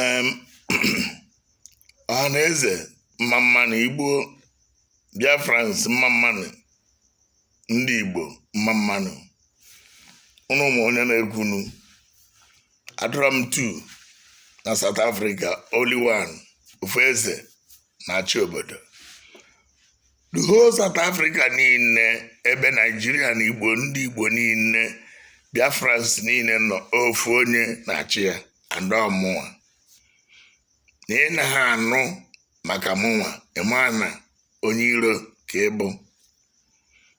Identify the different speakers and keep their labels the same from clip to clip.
Speaker 1: em ọha na eze mma mmanụ igbo biafrans mma mmanụ ndị igbo mma mmanụ ụnụ ama onye na-ekwunu Adoram 2 na south africa only one ofu eze na-achị obodo the whole South Africa niile ebe Naijiria na Igbo ndị Igbo niile Biafrans niile nọ ofu onye na-achị ya and ọ mụnwa na ị naha anụ maka mụnwa ị ma na onye iro ka ị bụ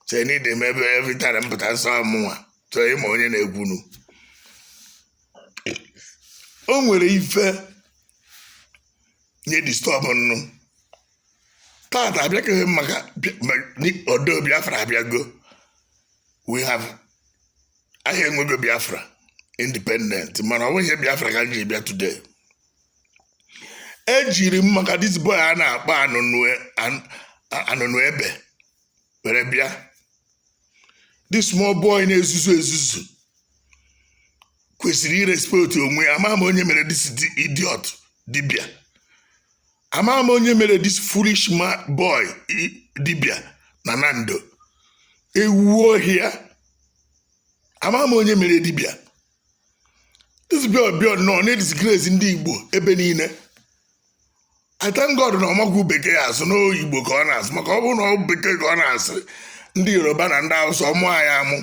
Speaker 1: so any time every time m pụta m sị ọ mụnwa so ị ma onye na-ekwunu o nwere ife m ji disturb ụnụ tata abịakeghị m maka odo biafra abịago we have ehe e nwego biafra independent mana ọ bụghị biafra ka m ji bịa today ejiri m maka this boy a na-akpọ anụnụ ebe were bịa this small boy na-ezuzu ezuzu kwesịrị irespekt onwe ya ama m onye mere this idiot dibia ama m onye mere this foolish boy dibia na nando ewu ohia ama m onye mere dibia this boy bịa nọ na-edisgrace ndị igbo ebe niile I thank God na ọ maghị bekee asụ na ọ igbo ka ọ na-asụ maka ọ bụrụ na ọ bekee ka ọ na-asụ ndị yoruba na ndị awụsa amụọ anyị amụ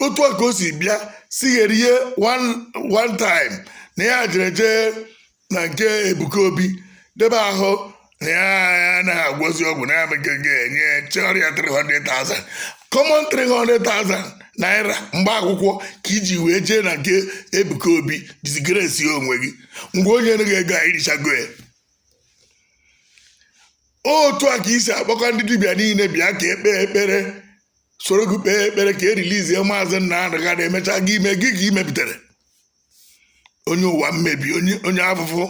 Speaker 1: otu a ka o si bịa sigherie one one time na ya jere jee na nke ebuka obi debe ahụ na ya anaghị agwọzi ọgwụ na ya mege ga-enye chọrọ ya 300,000 common 300,000 naira mgbe akwụkwọ ka i ji wee jee na nke ebuka obi disgresi onwe gị ngwa o nyenụ gị ego a i richago ya otu a ka i si akpọkọ ndị dibịa niile bịa ka e kpee ekpere soro gị kpee ekpere ka erilizie maazị Nnamdi Kanu emecha gị ime gị ka imepụtara onye ụwa mmebi onye onye afụfụ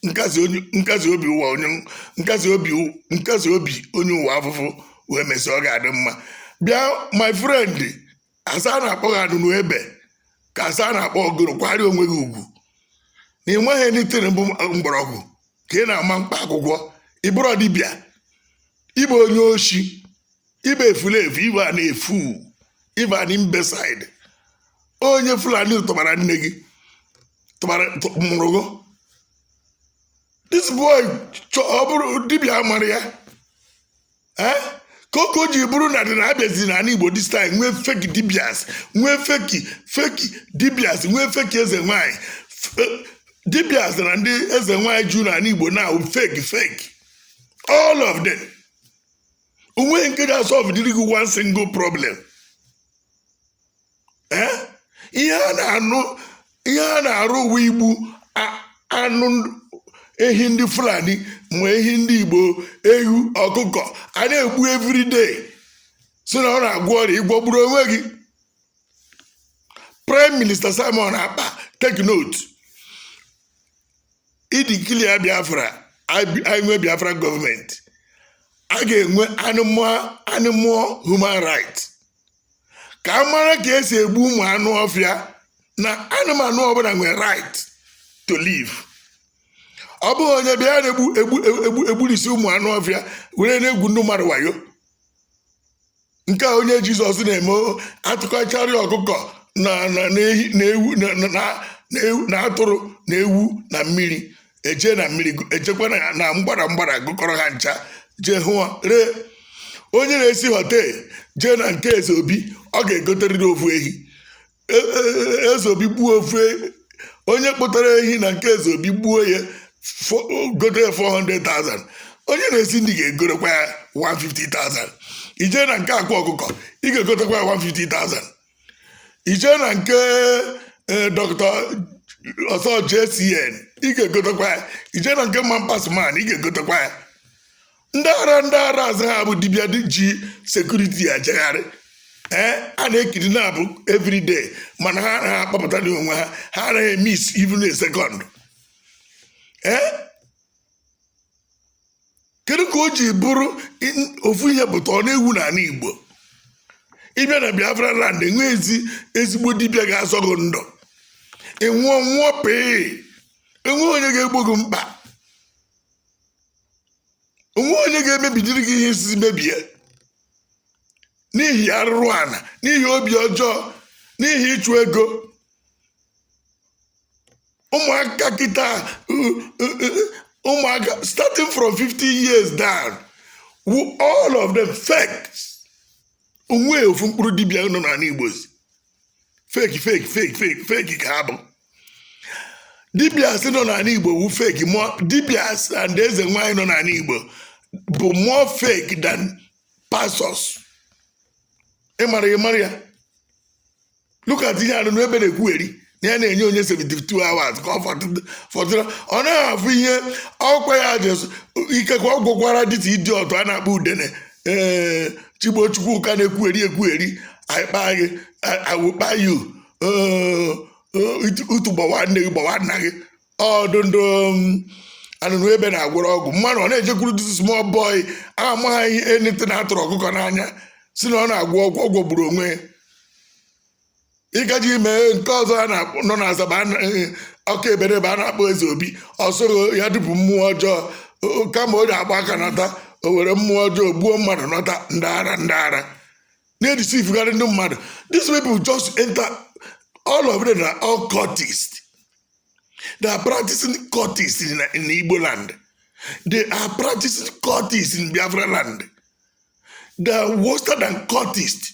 Speaker 1: nkasi onye- nkasi obi ụwa onye nkasi obi nkasi obi onye ụwa afụfụ wee mesịa ọ ga-adị mma bịa my friend a sị a na-akpọ gị anụnụ ebe ka a sị a na-akpọ gị gịnị kwanyere onwe gị ugwu na ị maghị anything bụ mgbọrọgwụ ka ị na-ama mkpa akwụkwọ ị bụrụ dibịa ịbụ onye oshi ịbụ efulefu ịbụ a na-efu ịbụ an imbecile onye fulani tụbara nne gị tụbara tụ- mụrụ gị this boy chọ ọ bụrụ dibịa mara ya Eh? kee ka o ji bụrụ na ndị na-abịazi na ala igbo this time nwee fake dibias nwee fake fake dibias nwee fake eze nwanyị F- dibias na ndị eze nwanyị ju na ala igbo na fake fake all of them onweghị nke ga-asolve dịrị gị one single problem Eh? ihe a na-anụ ihe a na-arụ wụ igbu a- anụ ndị- ehi ndị fulani ma ehi ndị igbo ewu ọkụkọ a na-egbu everyday si na ọ na-agwọ ọrịa ịgwọgburu onwe gị prime minister simon ekpa take note ideclare biafra anyị nwee biafra gọọmenti a ga-enwe animal human right ka a mara ka esi egbu ụmụ anụ ọfịa na anụmanụ ọbụla nwere right to live ọ bụghị onye bịa na-egbu egbu egbu egburisi ụmụ anụ ọfịa were na-egwu ndị mmadụ wayo nke a onye jizọs na-eme o, atụkọchara ya ọkụkọ na na na ehi na ewu na na- na- na ewu na atụrụ na ewu na mmiri eje na mmiri gụ- ejekwa na na mgbada mgbada gụkọrọ ha ncha jee ahịa ree onye na-esi họtel jee na nke eze obi ọ ga-egoteriri ofu ehi e- e- eze obi gbuo ofe onye kpụtara ehi na nke eze obi gbuo ya fo- gote ya 400,000 onye na-esi nri ga-egotekwa ya 150,000 ijee na nke akwa ọkụkọ ị ga-egotekwa ya 150,000 ijee na nke eh, dọkịta ọsọ jcn ị ga-egotekwa ya ijee na nke man pas man ị ga-egotekwa ya ndị ara ndị ara asị ha bụ dibịa ndị ji sekuriti ejegharị ee a na-ekiri na abụ everyday mana ha anaghị akpọpụtadị onwe ha ha anaghị emis even a second ee kedu ka o ji bụrụ in- ofu ihe pụta ọ na-ewu n'ala igbo ịbịa na biafra land enweghị ezi ezigbo dibịa ga-azọ gị ndụ ịnwụọ nwụọ pee enweghị onye ga-egbo gị mkpa onweghị onye ga-emebidiri gị ihe isizi mebie n'ihi arụrụ ala n'ihi obi ọjọọ n'ihi ịchụ ego ụmụaka kịta uh, uh, uh, ụmụaka starting from 50 years down o all of them fakes onweghị ofu mkpụrụ dibịa nọ n'ala igbo zi fake fake fake fake fake ka ha bụ dibias nọ n'ala igbo wu fake dibias and eze nwaanyị nọ n'ala igbo bụ more fake than pastors ị mara ya mara ya look at ihe anụnụ ebe na-ekwugheri na ya na-enye onye 72 hours ka ọ fọdụ- fọdụrụ ọ naghị afụ ihe ọkwa ya dị ikekwe ọ gwụkwara dirty idiot a na-akpọ udene ee chigbo chukwuka na-ekwugheri ekwugheri anyị kpaa gị awụkpa yu utu gbawa nne gị gbawa nna gị ọ dụ ndụ um, anụnụ ebe na-agwọrọ ọgwụ mmadụ ọ na-ejekwuru this small boy amaghị anything na-atụrụ ọkụkọ n'anya sị na ọ na-agwọ ọgwụ ọ gwọgburu onwe ya ị ga-eji ime nke ọzọ a na-akpọ nọ na asaba a na- eh, ọka eberebe a na-akpọ eze obi o soro ya dupụ mmụọ ọjọọ O- o- kama o ji agba aka nata o were mmụọ ọjọọ gbuo mmadụ nọta ndị ara ndị ara na-edeceivegharị ndị mmadụ these people just enter all of them are all cultists they are practicing cultists in, in Igbo land they are practicing cultists in Biafra land they are worse than cultists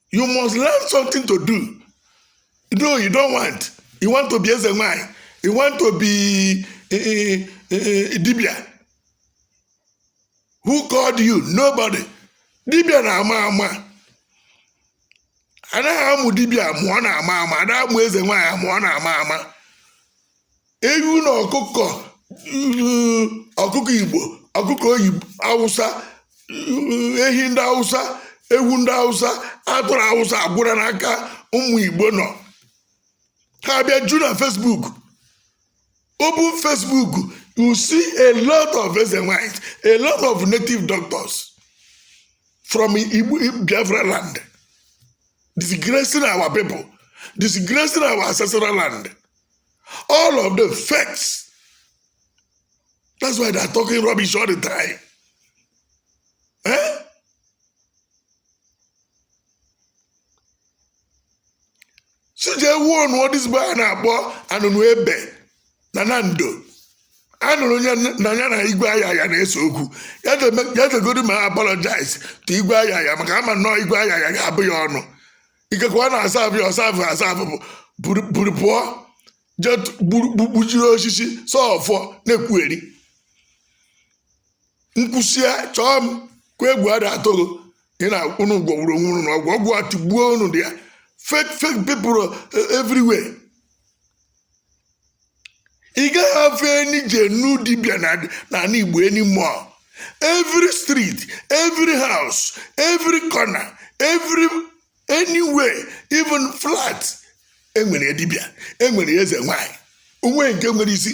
Speaker 1: you must learn something to do no you don't want you want to be eze nwanyị you want to be eh, eh, eh, dibia who called you nobody dibia na-ama ama anaghị amụ dibia amụ ọ na-ama ama anaghị amụ eze nwaanyị amụ ọ na-ama ama ewu na ọkụkọ mm, ọkụkọ igbo ọkụkọ oyibo awụsa mm, ehi ndị awụsa ewu ndị awụsa atụrụ awụsa agwụra n'aka ụmụ igbo nọ ha bịaju na facebook open facebook you see a lot of eze nwaanyịs a lot of native doctors from igbo biafra land disgracing our people disgracing our ancestral land All of them fakes. That's why they are talking rubbish all the time. Eh? So they warn what this boy a na-akpọ anụnụ ebe na nando. anụrụ m na ya na igwe ayaya na-ese okwu ya jegodi ma apologize to igwe ayaya maka ama nnọọ igwe ayaya ga-abụ ya ọnụ ikekwe na-asa abụ ya ọsa abụ asa abụ bụ buru buru pụọ jee tụ- gburu- gbu- gbujiri osisi sọfọ na-ekwugheri m kwusịa chọọ m kwa egwu ada atụghị ị na unu gwọgburu onwe unu na ọgwụ ọgwụ atụgbuo unu there fake fake people eh, everywhere ị gaghị afụ any genuine dibia na n'ala igbo anymore every street every house every corner every anywhere even flat enwere dibia enwere eze nwanyị o nweghị nke nwere isi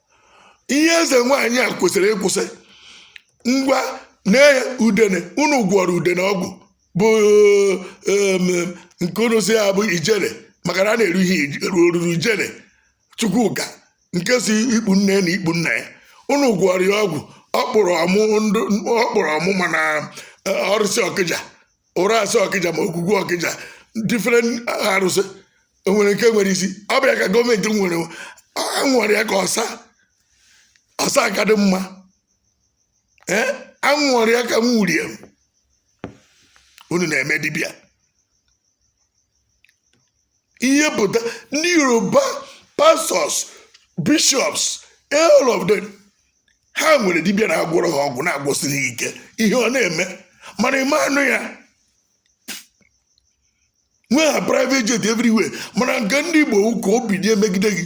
Speaker 1: ihe eze nwaanyị a kwesịrị ịkwụsị ngwa na udene unu gwọrọ udene ọgwụ bụ em, nke unu sị ya bụ ijele maka na a na-eru ihe ij- ru- oruru ijele chukwuka nke si ikpu nne na ikpu nna ya unu gwọrọ ya ọgwụ ọ kpụrụ ọmụ ndụ ọ kpụrụ ọmụ mana eh, arụsị ọkịja ụrasị ọkịja ma ogwugwu ọkịja different arụsị o nwerọ nke nwere isi ọ bụ ya ka gọọmenti nwere a nwere ya ka ọsa ọsa aka dị mma ee a nwere ya ka m wurie m unu na-eme dibịa ihe pụta ndị yoruba pastors bishops all of them ha nwere dibịa na-agwọrọ ha ọgwụ na-agwọsiri ha ike ihe ọ na-eme mana ị ma anụ ya nwee ha private jet everywhere mana nke ndị igbo wụ ka o bido emegide gị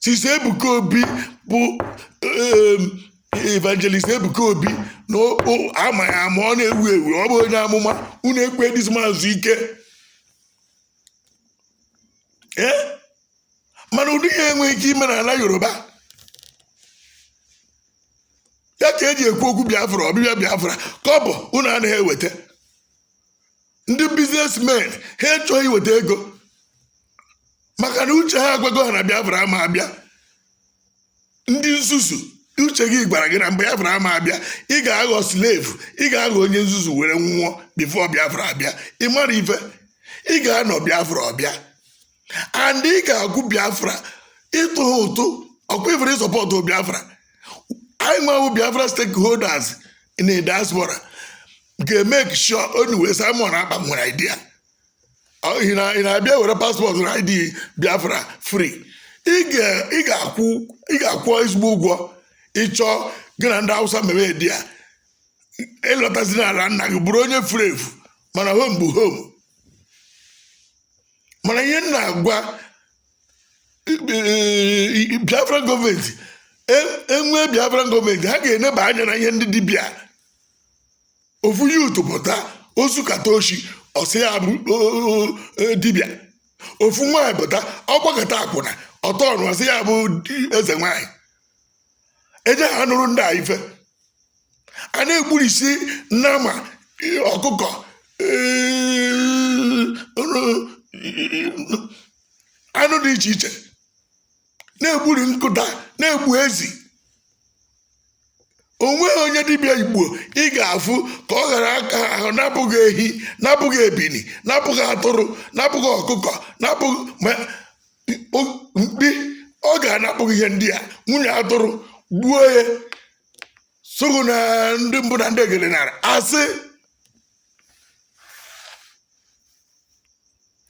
Speaker 1: Since Ebuka Obi bụ um, evangelist Ebuka Obi na o- o- ama ya ama ọ na-ewu ewu ọ bụ onye amụma unu ekwe this man zuo ike ee mana ụdị ya enweghị ike ime n'ala Yoruba ya ka eji ekwu okwu Biafra ọbịbịa Biafra kọbọ unu anaghị eweta ndị businessmen ha achọghị iweta ego maka na uche ha agwago ha na biafra ama abịa ndị nzuzu uche gị gwara gị na mgbe biafra ama abịa ị ga-aghọ slave ị ga-aghọ onye nzuzu were nwụọ before biafra abịa ị mara ife ị ga-anọ biafra ọ bịa and ị ga-akwụ biafra ịtụ ha ụtụ ọkwa ifere ịsọpọtụ biafra anyị nwewo biafra stakeholders in the diaspora ga-emeki sure anyway Simon Ekpa nwere idea ị na- ị na-abịa were paspọtụ na id biafra free ị ga- ị ga-akwụ ị ga-akwụ ezigbo ụgwọ ị chọọ gị na ndị hausa mebe dị ya ị lọtazi n'ala nna gị bụrụ onye furu efu mana home bụ home mana ihe m na-agwa eh, biafra gọọmenti e- enwee biafra gọọmenti ha ga-eneba anya na ihe ndị dibịa ofu youth pụta o zukata oshi ọ sị ya bụ o- o- dibịa ofu nwaanyị pụta ọ gbakata akwụna ọtọ ọnụ ọ sị ya bụ di- eze nwaanyị eje ha nụrụ ndị a ife a na-egburisi nama eh, ọkụkọ eh, anụ dị iche iche na-egburi nkụta na-egbu ezi o nweghị onye dibịa igbo ị ga-afụ ka ọ ghara aka ahụ napụghị ehi napụghị ebini napụghị atụrụ napụghị ọkụkọ napụghị ma o- mkpi ọ ga-anapụghị ihe ndị a nwunye atụrụ gbuo ya sụghụ na ndị mbụ na ndị egele nara asị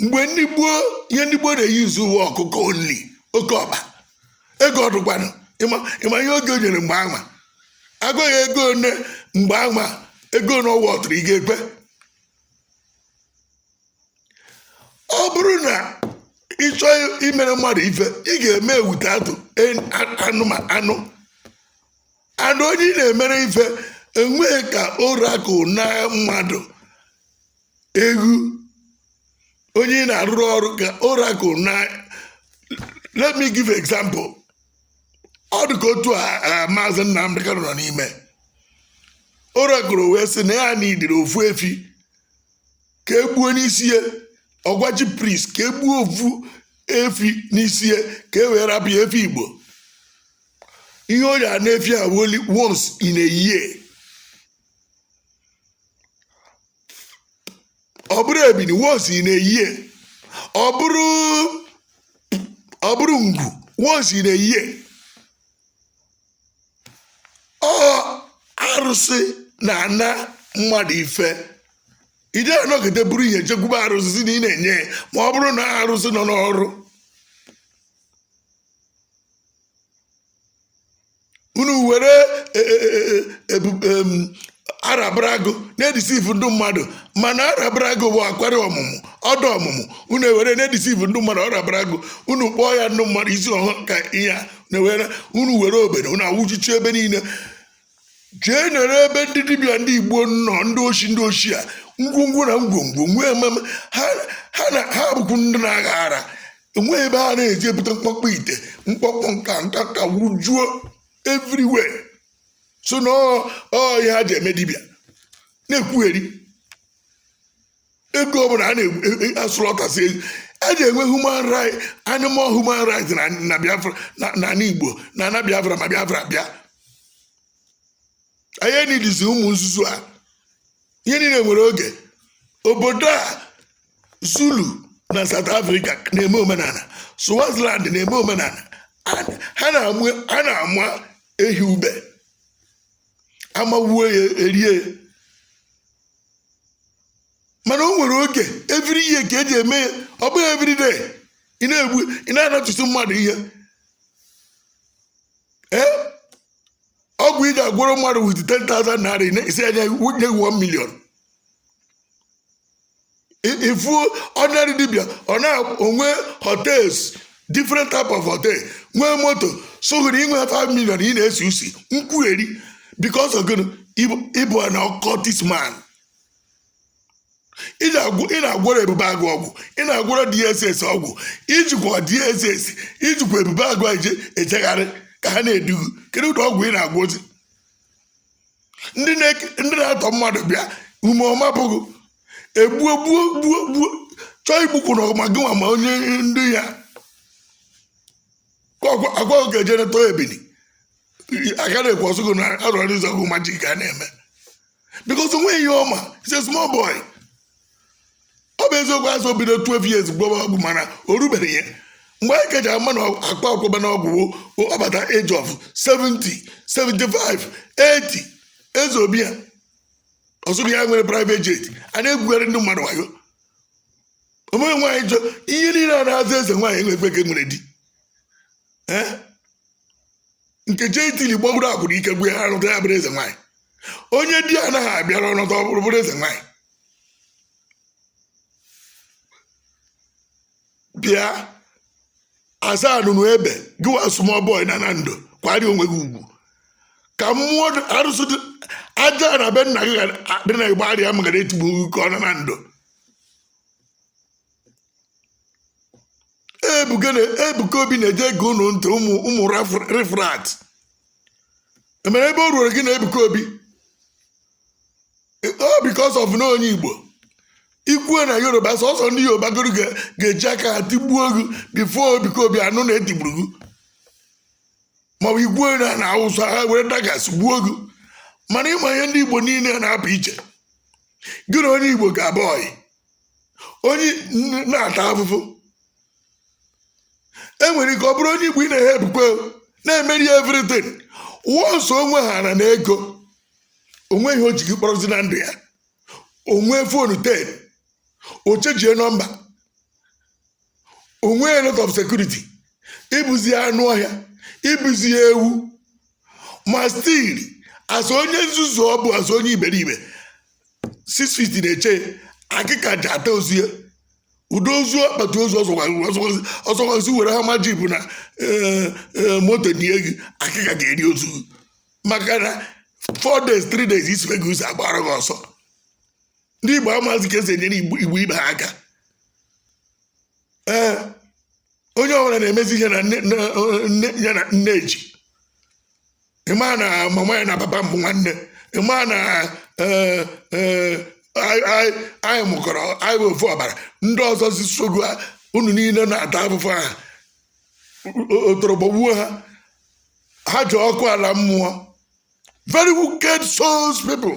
Speaker 1: mgbe ndị gboo ihe ndị gboo na-eyi izu uwe ọkụkọ only oke ọkpa ego ọ dụkwanụ ịma ịma ihe oge o nyere mgbe anwa agụghị ego one mgbe anwa ego one ọwa ọtụrụ ị ga-ekwe ọ bụrụ na ị chọọ imere mmadụ ife ị ga-eme ewute atụ en- a- anụma anụ and onye ị na-emere ife enweghị ka oracle na mmadụ egwu onye ị na-arụrụ ọrụ ka oracle na let me give example ọ dị ka otu a a, maazị Nnamdi Kanu nọ n'ime oracle wee sị na ya nidiri ofu efi ka e gbuo n'isi ya ọ gwa chief priest ka e gbuo ofu efi n'isi ya ka e wee rapụ ya efi igbo ihe ọ ya-ana efi a only once in a year ọ bụrụ ebini once in a year ọ bụrụ ọ bụrụ ngwu once in a year ọ arụsị na-ana mmadụ ife ị da anọkata buru ihe jekwube arụsị sị na ị na-enye ya ma ọ bụrụ na arụsị nọ n'ọrụ unu were e- e- e- e- ebu- em, Arobinagu na-edeceive ndị mmadụ mana Arobinagu bụ akwari ọmụmụ ọda ọmụmụ unu ewere na-edeceive ndị mmadụ Arobinagu unu kpọọ ya ndị mmadụ isi ọhụrụ ka ihe a na-ewere unu were obere unu awụjuchi ebe niile jee nere ebe ndị dibịa ndị igbo nọ ndị oshi ndị oshi a ngwungwu na ngwongwo nwee ememe ha ha na ha bụkwu ndị na-agha ara enweghị ebe ha na-eje ebute mkpọkpọ ite mkpọkpọ nka nka ka wujuo everywhere so na ọ ọ ihe ha ji eme dibịa na-ekwugheri eghu ọbụla a na-asụlọtasị e, e, e, eje enwe human right animal human rights na biafra na ala igbo na ana biafra ma biafra bịa anyị enidizi ụmụ nzuzu a ihe niile nwere oge obodo a zulu na south africa na-eme omenala swaziland na-eme omenala ha na-ama ehi ube amawuo ya erie mana o nwere oge every year ka eji eme ya ọ bụghị every day ị na-egbu ị na-anatụsi mmadụ ihe ee ọgwụ ị ga-agwọrọ mmadụ with 10,000 naira ị na-asị ya nye 1 million ị fụ ordinary dibịa ọ na-enwe hotels different type of hotel nwee moto soghịrị inwe 5 million ị na-esi usi nkwugheri because of gịnị ị bụ an occultist man ị na-agwọrọ ebube agụ ọgwụ ị na-agwọrọ dss ọgwụ i jikwa dss i jikwa ebube agụ eje ejegharị ka ha na-edu gị kedu ụdị ọgwụ ị na-agwọzi ndị na-atọ mmadụ bịa ume ọma bụghị egbuo gbuo gbuo gbuo chọọ igbukwu na ọma gị nwa ma onye ndị ya agwa oge eje neta ebili aka na-ekwu ọ sị gị na arụsị ọgwụ magic a na-eme because o nweghị ihe ọ ma is a small boy ọ bụ eziokwu a sị o bido 12 years gwọwa ọgwụ mana o rubeghị ya mgbe anyị keji ama na akpa akwụba na ọgwụ wụ ọ bata age of 70 75 80 eze obi ya ọ sị gị ya nwere private jet a na-egwugharị ndị mmadụ wayo o mee nwaanyị jọ ihe niile a na-aza eze nwaanyị enwekwe nke nwere di ee nke je italy gbagburu akwụna ike gwụ ya alọta ya bụrụ eze nwaanyị onye di anaghị abịara ọ nọdụ ọ bụrụ bụrụ eze nwaanyị bịa aza anụnụebe gịwa small boy na na ndụ kwanyere onwe gị ugwu ka mmụọ dị- arụsị dị- ajaana be nna gị ga- dị na igbariam ghara etigbu gị ka ọ na na ndụ ebuka na ebuka obi na-eje ege unu ntị ụmụ ụmụ rif- riffraff ihe mere ebe o ruoro gị na ebuka obi ọ because of na onye igbo i kwue na yoruba sọsọ ndị yoruba agboro ga- ga-eji aka ha tigbuo gị before ebuka obi anụ na etigburu gị maọbụ i kwue na na awụsa ha were daggers gbuo gị mana ị ma ihe ndị igbo niile na-apụ iche gị na onye igbo ga-abụ ọyị onye na-ata afụfụ enwere ike ọ bụrụ onye igbo ị na-ehe ebukwe na-emeri everything once o nwe ha na n'ego o nweghị ihe o ji gị kpọrọzi na ndụ ya o nwee fonu ten o chenjie nọmba o nwee a lot of security ị bụzị anụ ọhịa ị bụzị ewu ma still as onye nzuzu ọ bụ as onye iberibe six feet na-eche ya, akịka ji ata ozu ya udo ozu akpati ozu ọ sọkwa sị were Hummer Jeep na eh, eh, moto nie gị akịka ga-eri ozu gị. maka na 4 days 3 days i sibe isi agbaara gị ọsọ ndị Igbo amazi ka esi enyere Igbo ibe ha aka ee onye ọbụla na-emezi ihe na ya na nne ji ị ma na mama ya na papa m bụ nwanne ị ma na e, e, anyị mụkọrọ anyị bụ ofu ọbara ndị ọzọ si sogo unu niile na-ata afụfụ ahụ otoro gbagbuo ha ha jee ọkụ ala mmụọ very wicked souls people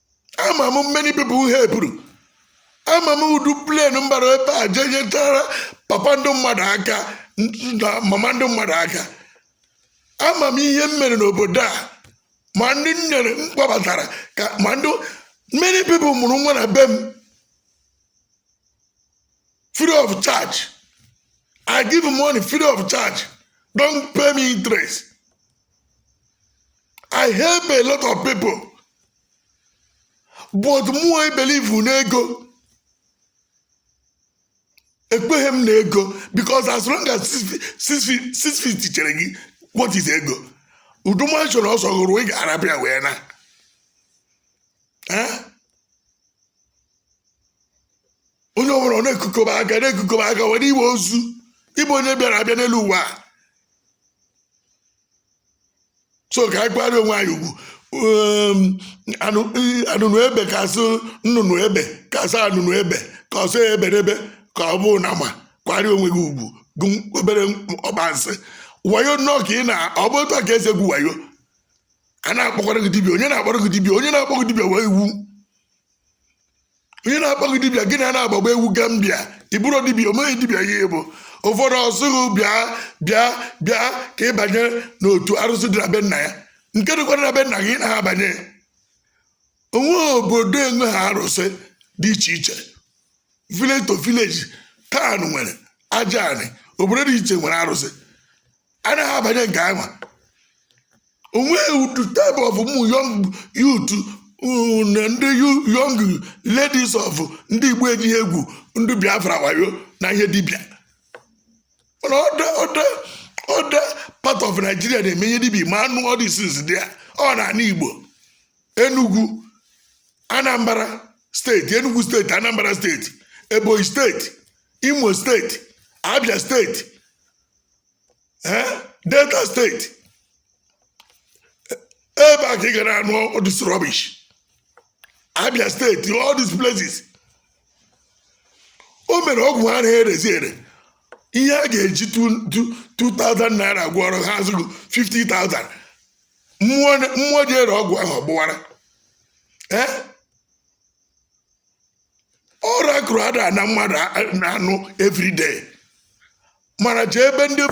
Speaker 1: ama m many people m helpụrụ ama m ụdị plane m bara ebe a jee nyechaara papa ndị mmadụ aka na mama ndị mmadụ aka ama m ihe m mere n'obodo a ma ndị m nyere m kpọbatara ka ma ndị many people mụrụ nwa na be m free of charge i give money free of charge don't pay me interest i help a lot of people but mụ i believe n'ego ekweghị m na ego because as long as six feet- six feet- six feet chere gị what is ego ụdị mansion ọ sọ gị rụọ ị ga-arapụ ya wee na Eh? onye ọbụla ọ na-ekukoba aka na-ekukoba aka were iwe ozu ị bụ onye bịara abịa n'elu ụwa a. so ka anyị kwara onwe anyị ugwu Um, anụ i- anụnụ ebe ka asụ nnụnụ ebe ka asụ anụnụ ebe ka ọsọ ebe n'ebe ka ọ bụ na ma kwara onwe gị ugwu gụ obere ọbansị wayo nnọọ ka ị na ọ bụ otu a ka esi egwu wayo a na-akpọkwara gị dibia onye na-akpọrọ gị dibia onye na-akpọ gị dibia wee iwu onye na-akpọ gị dibịa gị na na-agbagba egwu gambia ị bụrọ dibịa o nweghị dibịa ị bụ ụfọdụ asị gị bịa bịa bịa ka ị banye n'otu arụsị dị na be nna ya nke dịkwara na be nna gị na ha banye o nwe obodo enweghị arụsị dị iche iche village to village town nwere aja anị obodo dị iche nwere arụsị anaghị abanye nke anwa onweghị ụdị type of ụmụ young youth uh, na ndị yu- young ladies of ndị igbo ejighị egwu ndị bi abroad wayo na ihe dibịa mana other other other part of nigeria na-eme ihe dibịa ma anụ all these things dị ya ọ n'ana igbo enugu anambra steeti enugu steeti anambra steeti ebonyi steeti imo steeti abia steeti ee delta steeti ebe a ka ị gara anụ all this rubbish abia steeti all these places o mere ọgwụ ha na-erezi ere ihe a ga-eji 2000 naira gwọọrọ ha azụrụ 50,000 mmụọ ji ere ọgwụ ahụ ọ gbuwara ee ọrụ akụrụ ada na mmadụ na-anụ everyday mana jee ebe ndị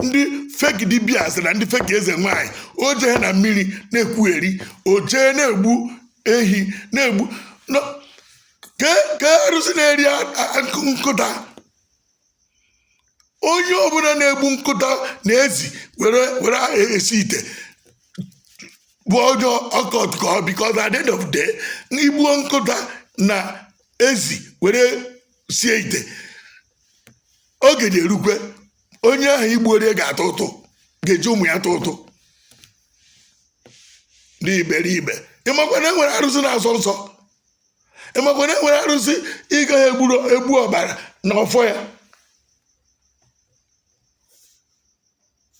Speaker 1: ndị fake dibias na ndị fake eze nwanyị o jee na mmiri na-ekwugheri o jee na-egbu ehi na-egbu kee arụsị na-eri nkụta onye ọbụla na-egbu nkụta na ezi were were esi ite bụ onye occult ka ọ because at the end of the day i gbuo nkụta na ezi were sie ite oge ga-erukwe onye ahụ i gbuorie ga-atụ ụtụ ga-eji ụmụ ya tụ ụtụ ndị iberibe ị makwa na e nwere arụsị na-asọ nsọ ị makwa na e nwere arụsị ị gaghị egbu ọbara na ọfọ ya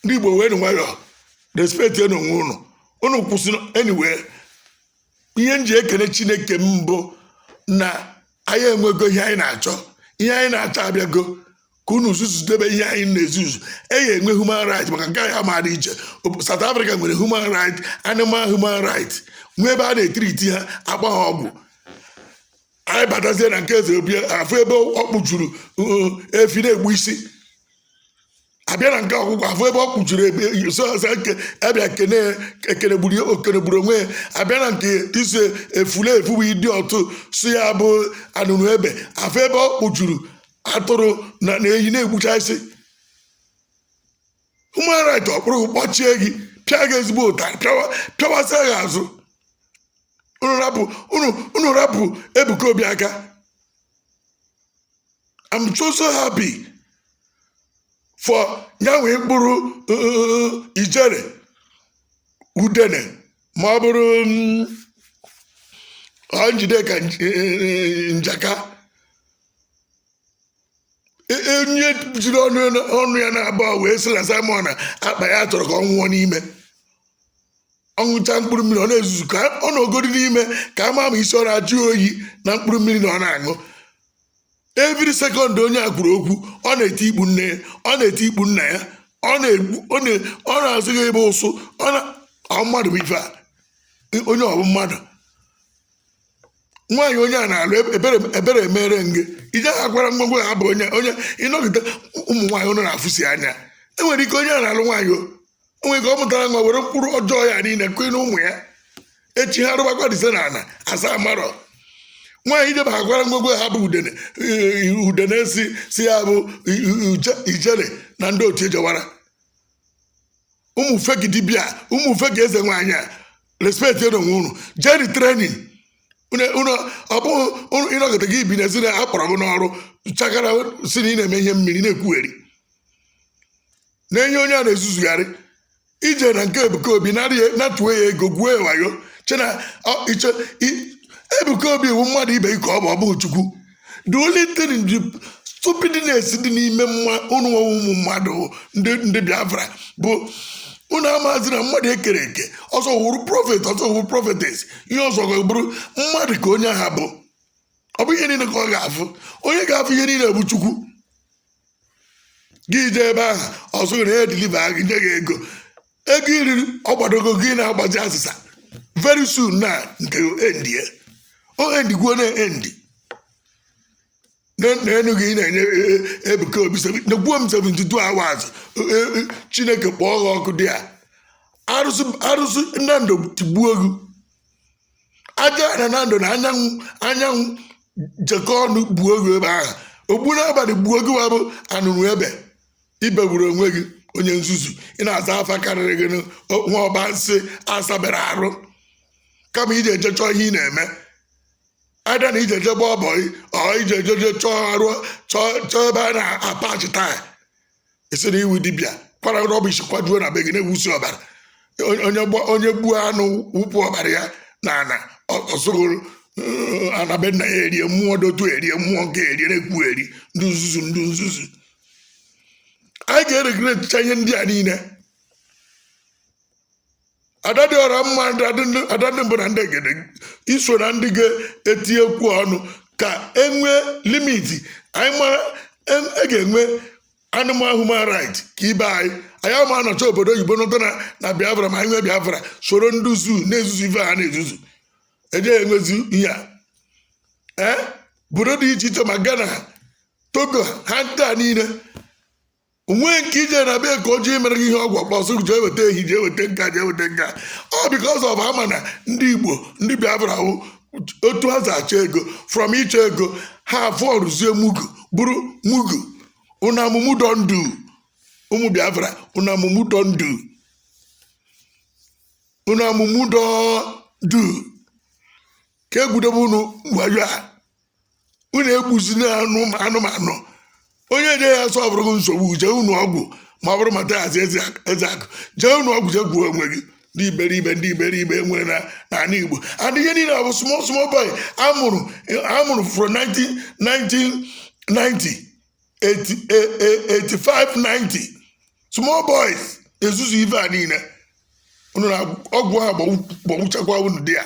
Speaker 1: ndị igbo wenụ nwayọ respectienụ onwe unu unu kwụsị anyway ihe m ji ekele chineke m bụ na anyị enwego ihe anyị na-achọ ihe anyị na-achọ abịago ka unu zuzudebe ihe anyị na-ezuzu anyị enwe human right maka nke animal dị iche South Africa nwere human right animal human right nwee ebe a na-etreati ha agba ha ọgwụ anyị batazie na nke eze obi afụ ebe ọ kpụjuru efi na-egbu isi abịa na nke ọgwụgwọ afụ ebe ọ kpụjuru ebe sọsọ nke abịa kene ekene gburu okene gburu onwe ya abịa na nke isi efulefu bụ ịdị ọtụ si ya bụ anụnụ ebe afụ ebe ọ kpụjuru atụrụ na na ehi na-egbucha isi human right akpụrụ kpọchie gị pịa gị ezigbo ụtarị pịawa- pịawasịa gị azụ unu rapụ unu unu rapụ ebuka obi aka i'm so so happy for nyanwe mkpụrụ uh, ijere udene ma ọ bụrụ mm, ọ njideka nj- eh, njaka E- onye jiri ọnụ ya- ọnụ ya na-aba wee sị na simon ekpa na ya chọrọ ka ọ nwụọ n'ime ọ ṅụcha mkpụrụ mmiri ọ na-ezuzu ka ọ nọgodi n'ime ka a ma ma isi ọ na-ajụ ya oyi na mkpụrụ mmiri na ọ na-aṅụ every second onye a kwuru okwu ọ na-eti ikpu nne ya ọ na-eti ikpu nna ya ọ na-egbu ọ na- ọ na-asị gị ebe ụsụ ọ na ọ mmadụ bụ ife a onye ọ bụ mmadụ nwaanyị onye a na-alụ ebere ebere emere m gị ije ha kwara ngwongwo ya bụ onye onye ịnọgide ụmụ nwaanyị unu na-afụsi anya e nwere ike onye a na-alụ nwaanyị o nwee ka ọ mụtara nwa were mkpụrụ ọjọọ ya niile kụọ na ụmụ ya echi ha rụbakwa dize na ana asaa marọ nwaanyị ijebe ha kwara ngwongwo ha bụ udene udene si si ya bụ ijele na ndị otu ejewara ụmụ fake dibia ụmụ fake eze nwaanyị a respectienu onwe unu jeenu training unu ọ bụghị unu- ịnọgide gị bi n'ezi na akpọrọ gị n'ọrụ chakara sị na ị na-eme ihe mmiri na-ekwugheri na-enye onye a na-ezuzugharị i jee na nke ebuka obi narị ya- natuo ya ego gwuo ya wayo chee na ọ- iche i- ebuka obi wu mmadụ ibe gị ka ọ bụ ọ bụghị chukwu the only thing the stupidness dị n'ime mma unu nwa ụmụ mmadụ ndị ndị biafra bụ unu amazị na mmadụ e kere eke ọ sọ wụrụ prophet ọ sọ wụrụ prophetess ihe ọzọ ga-abụrụ mmadụ ka onye ahụ bụ ọ bụ ihe niile ka ọ ga-afụ onye ga-afụ ihe niile bụ chukwu gị jee ebe ahụ ọ sị na ya deliver gị nye gị ego ego i riri ọ gbadogo gị na-agbazi asịsa very soon na nke endi ya o endigwo na endi na- na enu gị ị na-enye e- e- ebuka obi seven- nyekwuo m 72 hours e- e- e- chineke kpọọ gị ọkụ there arụsị arụsị na ndụ tigbuo gị ajana na ndụ na anyanwụ anyanwụ jekọ ọnụ gbuo gị ebe ahụ ogbu n'abalị gbuo gị wabụ anụrụ ebe i begburu onwe gị onye nzuzu ị na-aza afa karịrị gị nụ, o- nwa ọba nsị asaberọ arụ kama ị je-eje chọọ ihe ị na-eme ada na ije eje gbaa bọị ọ ije eje je chọọ ọrụ chọọ chọọ ebe a na-apachi taya ị sị na ị wụ dibịa kwara rubbish kwajuo na be gị na-awụsị ọbara Onye- onye gba- onye gbuo anụ wụpụ ọbara ya na ana ọsụgụrụ anabe nna ya erie mmụọ dotu erie mmụọ nke erie na-ekwugheri ndị nzuzu ndị nzuzu anyị ga-eregulatecha ihe ndị a niile ada dị ọra mma ada ndị mbụ na ndị egede iso na ndị ga-etinyekwu ọnụ ka enwee limiti anyị mara e, e ga-enwe animal human right ka ibe anyị anyị ama anọcha obodo oyibo nọta na biafra ma anyị nwee biafra soro ndị zoo na-ezuzu ife ha na-ezuzu eje enwezi ihe a ee eh? obodo dị iche iche ma ghana togo ha ncha niile onweghị nke ije na be ka o ji mere gị ihe ọgwụ ọ kpọ sị jee weta ehi jee weta nke a jee weta nke a ọ because of ama na ndị igbo ndị biafra wụ otu ha si achọ ego from ịchọ ego ha afọrụzie mugu bụrụ mugu una mumu don do ụmụ biafra una mumu don do una mumu don do ka egwudebe unu wayo a unu egbuzina anụ- anụmanụ onye je ya sọ bụrụ nsogbu jee ṅụọ ọgwụ ma ọ bụrụ mata hazi eze ak- eze akụ jee ṅụọ ọgwụ jee gbuo onwe gị ndị iberibe ndị iberibe nwere na n'ala igbo and ihe niile ọ bụ small small boy amụrụ amụrụ from 19 1990 85 90 small boys ezuzu ife a niile unu na ọgwụ ha gbọgbuchakwa unu dị ya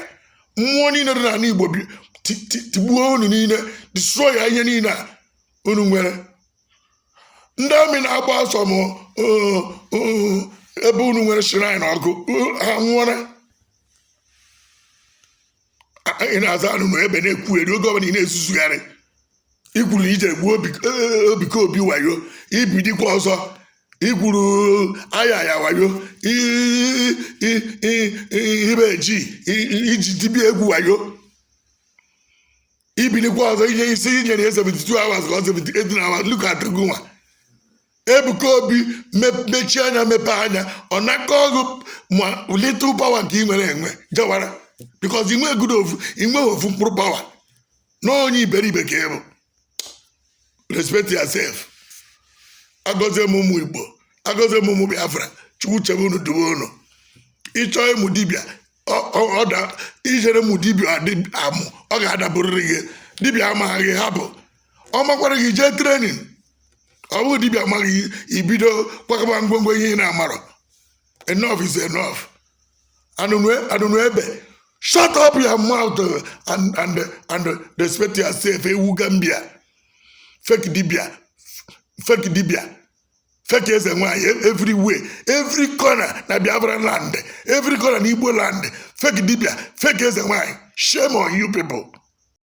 Speaker 1: mmụọ niile dị n'ala igbo bi- ti- ti- tigbuo unu niile destroy ya ihe niile a unu nwere ndị amị na-agba ọsọ m oo, oo, ebe unu nwere shrine ọkụ oo, ha nwụọra ị na-aza anụnụ ebe na-ekwugheri oge ọbụla ị na-ezuzugharị ikwuru na ije gbuo ebuka obi wayo ibilikwa ọzọ ikwuru aya ya wayo ibe ji iji dibịa egwu wayo ibilikwa ọzọ inye ị sị i nyere ya 72 hours ka ọ 78 hours look at gị nwa ebuka obi me- mechie anya mepee anya ọ nakọọ gị ma little power nke ị nwere enwe jewara because inwegodu ofu inwe ofu mkpụrụ power na onye iberibe ka ịbụ respect yourself agọzie m ụmụ igbo agọzie m ụmụ biafra chukwu chebe unu dube unu ịchọ ịmụ dibịa ọ- ọ- ọ da- ijere mụ dibịa adị- amụ ọ ga-adaburịrị gị dibịa amaghị gị hapụ ọ makwara gị jee training ọ bụghị dibịa amaghị gị ibido kwakọba ngwongwo ihe ị na-amarọ enough is enough anụnụ anụnụ ebe shut up your mouth uh, and and and respect yourself ewu gambia fake dibịa fake dibịa fake eze nwaanyị e- everywhere every corner na biafra land every corner na igbo land fake dibịa fake eze nwaanyị shame on you people